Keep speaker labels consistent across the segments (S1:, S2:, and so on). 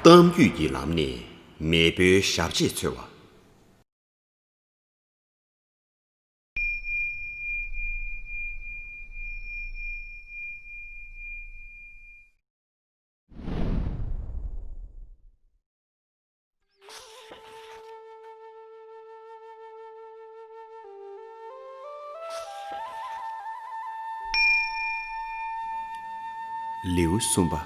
S1: གཏམ་རྒྱུད་ཀྱི་ལམ་ནས་མེས་པོའི་ཞབས་རྗེས་འཚོལ་བ། ལེའུ་གསུམ་པ།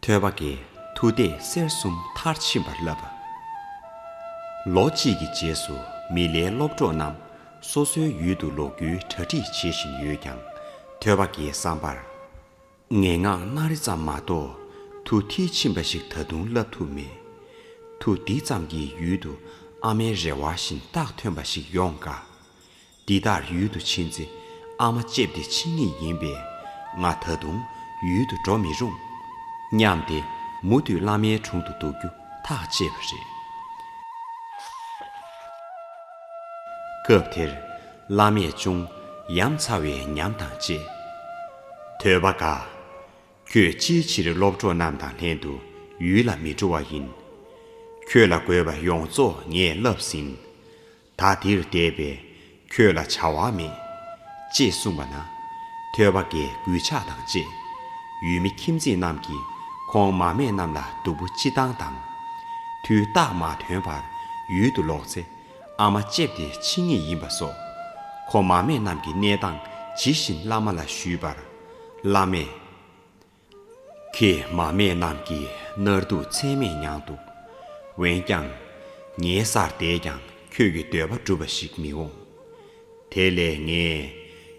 S1: ཐོད་པ་འགའི་མཐུ་སྟེ་གསེར་གསུམ་མཐར་ཕྱིན་པར་བསླབ་པ། ལོ་གཅིག་གི་རྗེས་སུ་མི་ལའི་སློབ་གྲོགས་རྣམས་སོ་སོའི་ཡུལ་དུ་ལོག་རྒྱུའི་གྲ་སྒྲིག་བྱེད་བཞིན་ཡོད་ཀྱང་ཐོད་པ་འགའི་བསམ་པར། ངན་སྔགས་སྣ་རེ་ཙམ་མ་གཏོགས་དུ་མཐིལ་ཕྱིན་པ་ཞིག་ད་དུང་བསླབ་ཐུབ་མེད། དུ་འདི་ཙམ་གྱི་ཡུལ་དུ་ཨ་མའི་རེ་བ་བཞིན་རྟགས་ཐོན་པ་ཞིག་ཡོང་དཀའ། འདི་ལྟར་ཡུལ་དུ་ཕྱིན་ཚེ་ཨ་མ་ལྕེབས་ཏེ་ཕྱིན་ངེས་ཡིན་པས་ང་ད་དུང་ཡུལ་དུ་འགྲོ་མི་རུང། སྙམ་སྟེ་མུ་མཐུད་བླ་མའི་དྲུང་དུ་འདུག་རྒྱུ་ཐག་བཅད་པ་རེད། སྐབས་དེར་བླ་མས་ཅུང་ཡ་མཚར་བའི་ཉམས་དང་བཅས། ཐོས་པ་དགའ། ཁྱོད་ཅིའི་ཕྱིར་སློབ་གྲོགས་རྣམས་དང་ལྷན་དུ་ཡུལ་ལ་མི་འགྲོ་བ་ཡིན། ཁྱོད་ལ་དགོས་པ་ཡོངས་རྫོགས་ངས་བསླབས་ཟིན། ད་འདིར་བསྡད་པས་ཁྱོད་ལ་བྱ་བ་མེད། ཅེས་གསུངས་པ་ན། ཐོས་པ་དགའི་གུས་ཕྱག་དང་བཅས། ཡུལ་མི་ཁྱིམ་མཚེས་རྣམས་ཀྱིས་ཁོང་མ་སྨད་རྣམས་ལ་སྡུག་པོ་ཅི་བཏང་དང། དུས་རྟགས་མ་ཐོན་བར་ཡུལ་དུ་ལོག་ཚེ། ཨ་མ་ལྕེབས་ཏེ་འཆི་ངེས་ཡིན་པ་སོགས། ཁོ་མ་མེད་རྣམས་ཀྱི་གནས་སྟངས་ཇི་བཞིན་བླ་མ་ལ་ཞུས་པར། བླ་མས། ཁྱེད་མ་མེད་རྣམས་ཀྱིས་མནར་སྡུག་ཚད་མེད་མྱངས་འདུག་འོན་ཀྱང། ངའི་སར་བསྡད་ཀྱང་ཁྱོད་ཀྱི་འདོད་པ་འགྲུབ་པ་ཞིག་མི་འོང། དེ་ལས་ངས་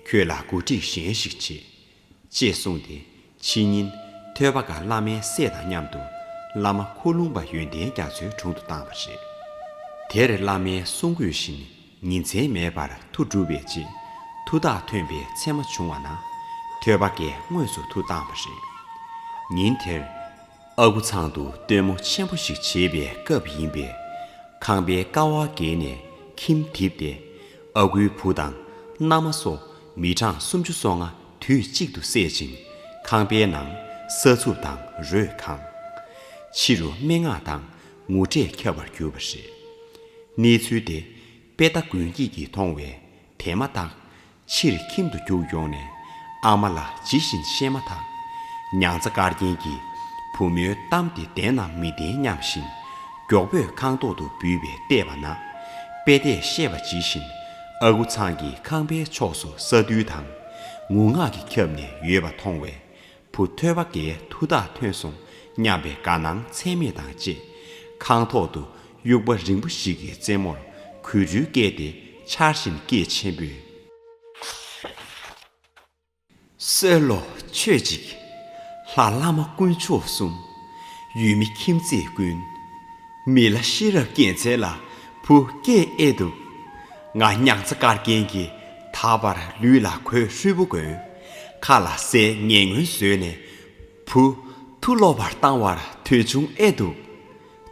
S1: ཁྱོད་ལ་གོ་སྒྲིག་གཞན་ཞིག་བྱེད། ཅེས་གསུངས་ཏེ་ཕྱི་ཉིན་ཐོས་པ་ག་བླ་མའི་སྲས་དང་མཉམ་དུ་བླ་མ་འཁོར་ལུང་པ་ཡོན་ཏན་རྒྱ་མཚོའི་དྲུང་དུ་བཏང་བ་རེད། དེར་བླ་མའི་གསུང་གོས་བཞིན་ཉིན་མཚན་མེད་པར་ཐུགས་སྒྲུབ་པའི་རྗེས་མཐུ་རྟགས་ཐོན་པའི་མཚན་མ་བྱུང་བ་ན་ཐོས་པ་གས་དངོས་སུ་ཐུགས་བཏང་བ་རེད། ཉིན་དེར་ཨ་ཁུ་ཚང་དུ་སྟོན་མོ་ཆེན་པོ་ཞིག་བྱེད་པའི་སྐབས་ཡིན་པས་ཁང་པའི་ཀ་བ་བརྒལ་ནས་ཁྱིམ་བསྡིབས་ཏེ་ཨ་ཁུའི་བུ་དང་མནའ་མ་སོགས་མི་གྲངས་སུམ་ཅུ་སོ་ལྔ་དུས་གཅིག་ཏུ་བསད་ཅིང། ཁང་པའི་ནང་ས་ཚུགས་དང་རོས་གང། ཕྱི་རུ་སྨྲེ་སྔགས་དང་ངུ་སྒྲས་ཁྱབ་པར་གྱུར་པ་རེད། གནས་ཚུལ་དེ་དཔེ་ལྟ་དགོན་སྐྱིད་ཀྱིས་མཐོང་བས་དེ་མ་བརྟགས་ཕྱིར་ཁྱིམ་དུ་རྒྱུགས་ཡོང་ནས་ཨ་མ་ལ་ཇི་བཞིན་བཤད་མ་ཐག་མྱང་ཚ་དཀར་རྒྱན་གྱིས་བུ་མོའི་གཏམ་དེ་བདེན་ནམ་མི་བདེན་སྙམ་བཞིན་མགྱོགས་པོས་ཁང་ཐོག་ཏུ་འབུད་པའི་བལྟས་པ་ན་དཔེ་དེས་བཤད་པ་ཇི་བཞིན་ཨ་ཁུ་ཚང་གི་ཁང་པའི་ཕྱོགས་སུ་ས་རྡུལ་དང་ངུ་ངག་གིས་ཁྱབ་ནས་ཡོད་པ་མཐོང་བས། བུ་ཐོས་པ་འགའི་མཐུ་དག་ཐོན་སོང་སྙམ་པའི་དགའ་སྣང་ཚད་མེད་དང་བཅས། ཁང་ཐོག་ཏུ་དབྱུག་པ་རིང་པོ་ཞིག་གི་རྩེ་མོར་གུས་འདུད་བསྐྱེད་དེ་འཕྱར་བཞིན་སྐད་ཆེན་པོས། གསོལ་ལོ། མཆོད་ཅིག། ལྷ་བླ་མ་དཀོན་མཆོག་གསུམ། ཡུལ་མི་ཁྱིམ་མཚེས་ཀུན། མི་ལ་ཤེས་རབ་སྐྱེད་འཚལ་ལ་བུ་སྐྱེས་ཨེ་བཏུབ། ང་སྙག་ཚ་དཀར་རྒྱན་གྱིས་དག་པར་ལུས་ལ་གོས་ཧྲུལ་པོ་གོན། ཁ་ལ་སའི་ངན་ངོན་བཟོས་ནས་བུ། ཐུགས་ལོག་པར་བཏང་བར་ཐོལ་བྱུང་ཨེ་བཏུབ།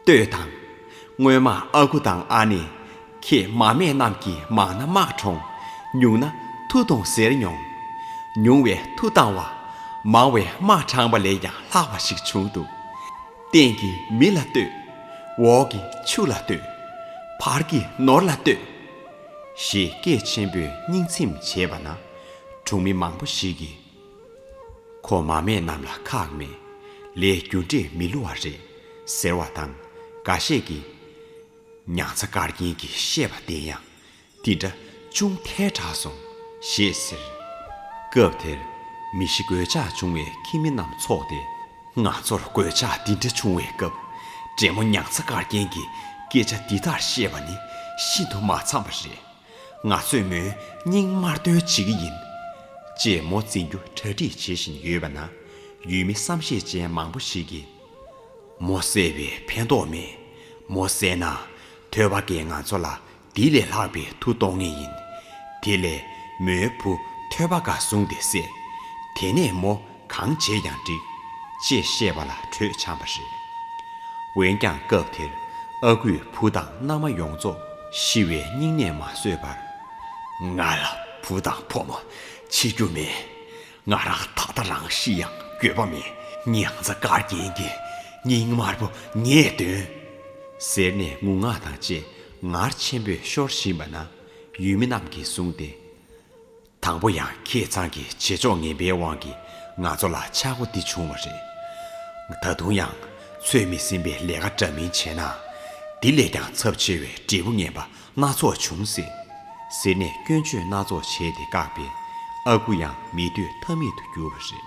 S1: ལྟོས་དང། སྔོན་མ་ཨ་ཁུ་དང་ཨ་ནེ། ཁྱེད་མ་སྨད་རྣམས་ཀྱིས་མང་ན་དམག་གྲོང། ཉུང་ན་མཐུ་གཏོང་ཟེར་མྱོང། ཉུང་བས་མཐུ་བཏང་བ། མང་བས་དམག་དྲངས་པ་ལས་ཀྱང་ལྷག་པ་ཞིག་བྱུང་འདུག། སྟེང་གི་མི་ལ་ལྟོས། འོག་གི་ཆུ་ལ་ལྟོས། བར་གྱི་ནོར་ལ་ལྟོས། ཞེས་སྐད་ཆེན་པོས་སྙིང་ཚིམ་བྱས་པ་ན། གྲོང་མི་མང་པོ་ཞིག་གིས། ཁོ་མ་མེད་རྣམས་ལ་ཁག་མེད། ལས་རྒྱུ་འབྲས་མི་བསླུ་བ་རེད། ཟེར་བ་དང་འགའ་ཤས་ཀྱིས། ཉང་ཚ་དཀར་རྒྱན་གྱིས་བཤད་པ་བདེན་ཡང། འདི་འདྲ་ཅུང་ཐལ་དྲགས་སོང། ཞེས་ཟེར། སྐབས་དེར། མི་བཞི་གོད་ཆགས་བྱུང་བའི་ཁྱིམ་མི་རྣམས་ཚོགས་ཏེ། ང་ཚོར་གོད་ཆགས་འདི་འདྲ་བྱུང་བའི་སྐབས། བགྲེས་མོ་ཉང་ཚ་དཀར་རྒྱན་གྱིས་སྐད་ཆ་འདི་ལྟར་བཤད་པ་ནི་ཤིན་ཏུ་མ་འཚམས་པ་རེད། ང་ཚོས་མོའི་སྙིང་དམར་འདོན་བྱེད་ཀྱི་ཡིན། ཅེས་མོ་འཛིན་རྒྱུ་གྲ་སྒྲིག་བྱེད་བཞིན་ཡོད་པ་ན། ཡུལ་མི་བསམ་ཤེས་ཅན་མང་པོ་ཞིག་གིས། མོ་བསད་པས་ཕན་ཐོགས་མེད། མོ་བསད་ན། ཐོས་པ་འགས་ང་ཚོ་ལ་དེ་ལས་ལྷག་པའི་མཐུ་གཏོང་ངེས་ཡིན། དེ་ལས་མོའི་བུ་ཐོས་པ་འགའ་བཟུང་སྟེ་བསད། དེ་ནས་མོ། གང་བྱེད་ཀྱང་འགྲིག། ཅེས་བཤད་པ་ལ་གྲོས་འཆམ་པ་རེད། འོན་ཀྱང་སྐབས་དེར་ཨ་ཁུས་བུ་དང་མནའ་མ་ཡོངས་རྫོགས་ཤི་བའི་སྙིང་ནད་མ་བཟོད་པར། ང་ལ་བུ་དང་ཕོ་མོ་འཆི་རྒྱུ་མེད། ང་རང་ད་ལྟ་རང་ཤི་ཡང་འགྱོད་པ་མེད་སྙིང་རྩ་དཀར་རྒྱན་གྱི་སྙིང་དམར་པོ་ངས་འདོན། ཟེར་ནས་ངུ་ངག་དང་བཅས་ངར་ཆེན་པོས་ཤོར་བཞིན་པ་ན་ཡུལ་མི་རྣམས་ཀྱིས་བཟུང་སྟེ། དང་པོ་ཡང་ཁྱེད་ཚང་གི་བྱེད་ཕྱོགས་ངན་པའི་དབང་གིས་ང་ཚོ་ལ་ཆག་སྒོ་འདི་བྱུང་བ་རེད། ད་དུང་ཡང་ཚོད་མི་ཟིན་པའི་ལས་ཀ་འདྲ་མིན་བྱས་ན། འདི་ལས་ཀྱང་ཚབས་ཆེ་བའི་འབྲས་བུ་ངན་པ་སྣ་ཚོགས་འབྱུང་སྲིད། ཟེར་ནས་སྐྱོན་བརྗོད་སྣ་ཚོགས་བྱས་ཏེ་བཀག་པས་ཨ་ཁུ་ཡང་མི་སྡོད་ཐབས་མེད་དུ་གྱུར་བ་རེད།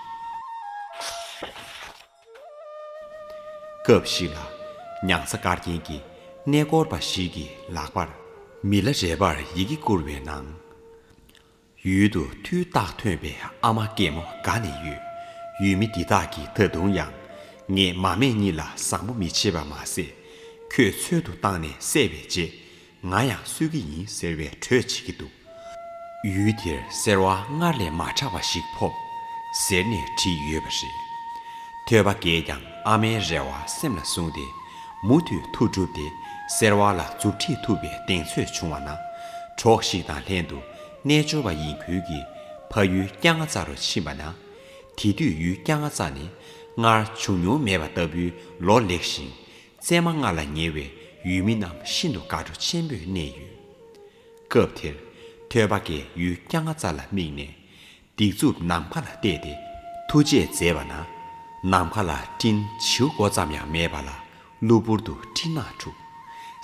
S1: སྐབས་ཤིག་ལ། ཉང་གཟའ་སྐར་རྒྱན་གྱི་གནས་སྐོར་བ་ཞིག་གིས་ལག་པར་མི་ལ་རས་པར་ཡི་གེ་བསྐུར་བའི་ནང། ཡུལ་དུ་མཐུའི་རྟགས་ཐོན་པའི་ཨ་མ་སྐྱེད་མོ་དགའ་ནས་ཡོད། ཡུལ་མི་འདི་དག་གིས་ད་དུང་ཡང། ངས་མ་སྨད་གཉིད་ལ་བཟང་པོ་མི་བྱེད་པ་མ་ཟད། ཁྱོད་འཚོལ་དུ་བཏང་ནས་བསད་པའི་རྗེས་ང་ཡང་གསོད་ཀྱི་ཡིན་ཟེར་བའི་གྲོས་བྱེད་ཀྱི་འདུག། ཡུལ་དེར་སེར་བ་སྔར་ལས་མ་ཕྲ་བ་ཞིག་ཕོབ། ཟེར་ནས་བྲིས་ཡོད་པ་རེད། ཐོས་པ་འགས་ཀྱང་ཨ་མའི་རེ་བ་སེམས་ལ་བཟུང་སྟེ། མུ་མཐུད་ཐུགས་སྒྲུབ་དེ་སེར་བ་ལ་མཛུབ་ཁྲིད་ཐུབ་པའི་གདེང་ཚོད་བྱུང་བ་ན། གྲོགས་ཤིག་དང་ལྷན་དུ་རྣལ་འབྱོར་བ་ཡིན་ཁུལ་གྱིས་ཕ་ཡུལ་སྐྱ་རྔ་རྩ་རུ་ཕྱིན་པ་ན། དེ་དུས་ཡུལ་སྐྱ་རྔ་རྩ་ནི་སྔར་བྱུང་མྱོང་མེད་པ་ལྟ་བུའི་ལོ་ལེགས་ཤིང། བཙས་མ་ལྔ་ལ་ཉེ་བའི་ཡུལ་མི་རྣམས་ཤིན་ཏུ་དགའ་སྤྲོ་ཆེན་པོས་གནས་ཡོད། སྐབས་དེར། ཐོད་པ་ཀའི་ཡུལ་སྐྱ་ལྔ་རྩ་ལ་དམིགས་ནས། སྡིགས་མཛུབ་ནམ་མཁའ་ལ་གཏད་དེ་ཐུགས་རྗེས་མཛད་པ་ན། ནམ་མཁའ་ལ་སྤྲིན་བྱེའུ་མགོ་ཙམ་ཡང་མེད་པ་ལ་གློ་བུར་དུ་སྤྲིན་ནག་འཁྲུག།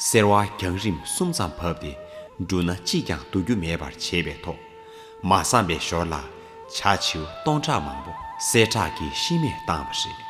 S1: སེར་བ་རྒྱང་རིམ་གསུམ་ཙམ་བབས་ཏེ་འབྲུ་སྣ་གཅིག་ཀྱང་བསྡུ་རྒྱུ་མེད་པར་བྱས་པའི་ཐོག་མ་བསམ་པའི་ཞོར་ལ་བྱ་བྱེའུ་སྟོང་ཕྲག་མང་པོ་གསལ་བསྒྲགས་ཀྱིས་ཤི་རྨས་བཏང་བ་རེད།